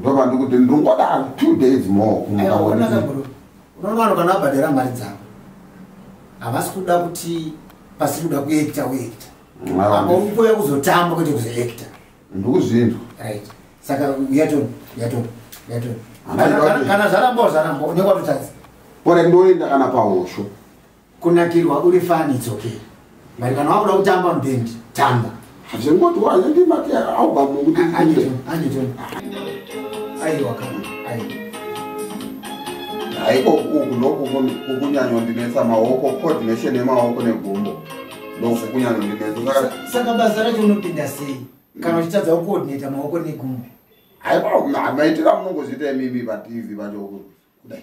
ndova ndikuti ndingoda two days more kumuka unoona vanhu kana vabhadhara mari dzavo havasi kuda kuti pasiri kuda kuekta uekta apa uri kuuya kuzotamba kwete kuzoekta ndikuzvinzwa right saka yatoni yatoni yatoni kana zvaramba zvaramba unenge watotadza ore ndoenda kana pahosho kunakirwa uri fan it's okay but kana wakuda kutamba mbend tamba hazvingoti wazenge mati album kuti anito anito aiwa kana aiwa haiko uku noku kukunyanywa ndinetsa maoko coordination yemaoko negumbo ndoku kunyanywa ndinetsa saka basa racho unopinda sei kana uchitadza kucoordinata maoko negumbo haiko maitira munongozviita imimi vativi vacho kudai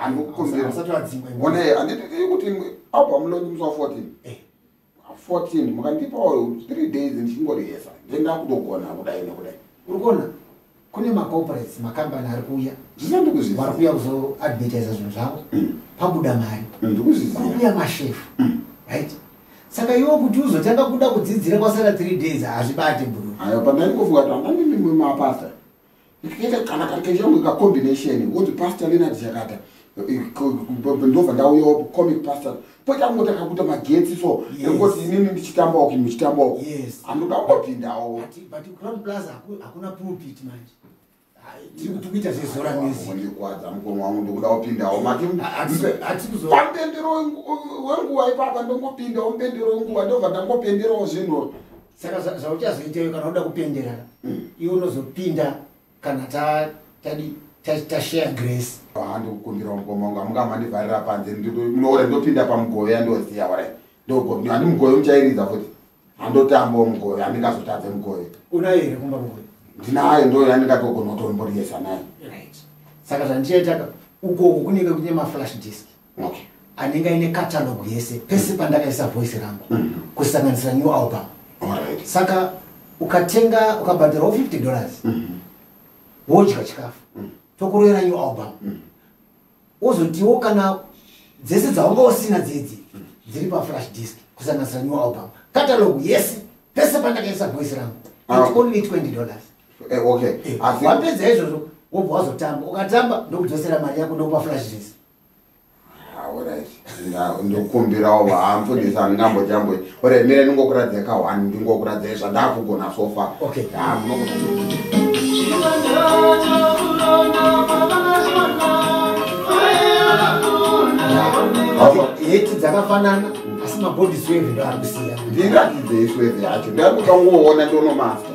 anokukombeaonai andititiri kuti album lonyi musi wa 14 eh. fourteen mukandipawo three days ndichingorihesa ndenda kutogona kudai nekudai uri kuona kune macorporates makambani ari kuuya vari kuuya kuzoadvertisa zvinhu zvavo mm. pabuda mari mm, kuri kuuya mashefu mm. right saka iwo kuti uzotanga kuda kudzidzira kwasara three days hazvibate bro ayo pandandikofuka tandanimimwe mapasa ndikaita kana karikaita kunge kacombination woti pastor lenard chakata eh, ndobva ndauyawo comic pastor poita kungoti akakuita magetsi so ekungoti inini ndichitambawo kinhu muchitambawo anoda kungopindawo tikuita zvezora mizikwadza mukoma wangu ndokuda kupindawo matipambendero wenguva ipapa ndongopindawo mbendero wenguva ndobva ndangopenderawo zvinhu saka zvauchazoita iwe kana uda kupenderana iwe unozopinda kana tadi tashare grace handikukumbira mukoma wangu amunga mandivharira panze munoore ndopinda pamugove yandosiya ware ndogove handi mugove muchairidza futi handotambawo mugove handingazotadze mugove unayo here kumba mugove ndinayo ndo yandingatogona kutomboriesa nayo saka zvandichaitaka ukoko kunenge kune maflash disk okay. anenge aine catalogue yese pese mm. pandakaisa voice rangu mm -hmm. kusanganisira new album right. saka ukatenga ukabhadhirawo 50 dollars mm -hmm. wodya chikafu mm -hmm. tokuroera new album mm -hmm. wozotiwo kana dzese dzaunga usina dzidzi mm -hmm. dziri paflash disk kusanganisira new album catalogue yese pese pandakaisa voice rangu ah, okay. only 20 dollars eh, okay. eh, wapedza izvozvo wobva wazotamba ukatamba ndokudzosera mari yako ndokupa flash disk ndokumbirawo vaamfundisi andingambo jambo ore mire ndingokuradza ka one ndingokuradza zvandakugona sofa okay. heti dzakafanana asi mabody sweve ndoari kusiya ndiratidze isweve yacho ndakuda kungoona ndonomasa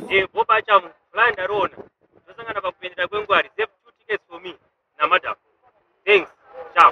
Eh, Bob Achamu, plan ndariona. Tosangana pakupendera kwengwari. Save two tickets for me namadam. Thanks. Ciao.